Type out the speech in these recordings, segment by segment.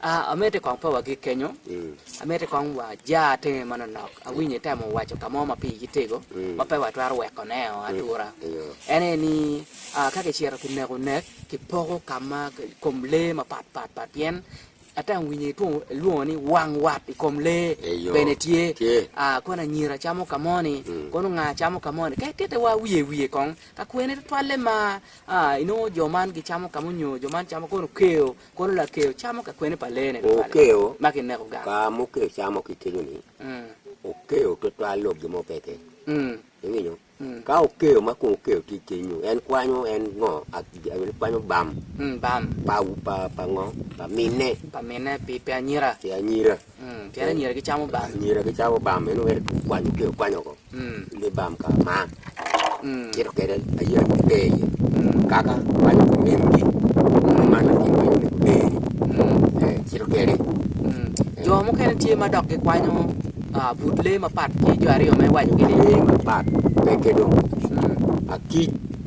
Amiti kong pe wagik kenyo, amiti kong waja tenge manonok. Awinyo itemo waco ka mo ma pigi tego ma pe watwero wekoneo atura. En aye ni, ka kicito kineko nek, kipoko ka ma kom lee mapat pat pat pien atemo winyo itwongo ilwongo ni wang wat i kom lee bene tye. Kono anyira camo ka moni, kono nga camo ka moni. Kadi titiwa wiye wiye kong ka kwene tutwalle ma. A, Inongo jo man gicamo ka munyo jo man camo kono keyo, kono lakeyo camo ka kwene pa leene tutwal-li ma kineko gang. Ka mukeyo camo ki kenyo-ni, okeyo tutwal lok gin mo pe iye. Iwinyo? Ka okeyo ma kong okeyo tye kenyo, en kwanyo en ngo? En kwanyo bam pa ngo? Pa minne. Pa minne, pi anyira. Pi anyira. Pien anyira gicamo bam. Anyira gicamo bam meno wek kwanyo kelo kwanyo ko. Ni bam ka ma. Cito kede ayira ki te iye. Kaka kwanyo ko mingi. Man la kin kwanyo mego te ni. Cito kede. Jo mukene tye ma dok gikwanyo but lee mapat ki jo aryo me waco gini. Lee mapat peke dong. Akic.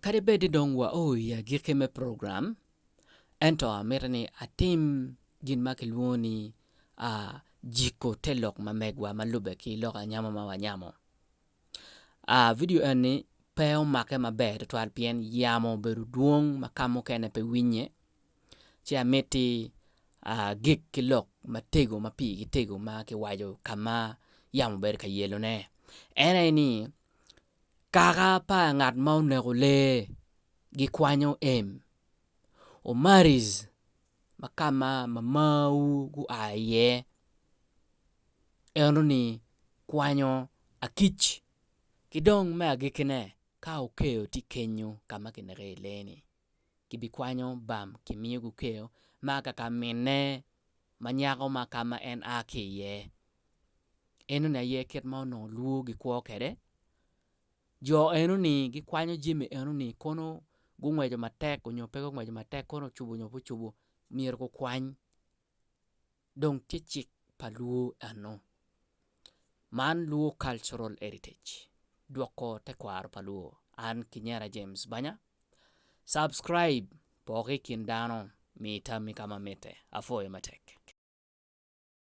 Kadi bed ni dong wao i agikki me program, ento amito ni atim gin ma kilwongo ni jiko te lok ma megwa ma lubbe ki lok anyamo ma wanyamo. Vidio eni pe omake maber tutwal pien yamo obedo dwong ma ka mukene pe winnye. ci amiti agik ki lok matego ma pigi tego ma kiwaco ka ma yamo obedo ka yelone en aye ni kaka pa ngat ma oneko lee gikwanyo em omaris ma ka ma mamawu gua iye eno ni kwanyo akic ki dong me agikkine ka okeyo tye kenyo ka ma kineko iye lee-ni. gibikwanyo bam ki miyo gukeyo ma ka ka minne ma nyako ma ka ma en a ki iye. Enoni aye kit ma onongo lwor gikwo kwede. Jo enoni gikwanyo jami enoni kono gungweco matek onyo pe gungweco matek kono ocubo onyo pe ocubo myero gukwany. dong tye cik pa luo eno. Man luo cultural heritage dwoko tekwaro pa luo an kinyera James banya subscribe poko ikin dano mi tammi kama mitte apwoyo matek.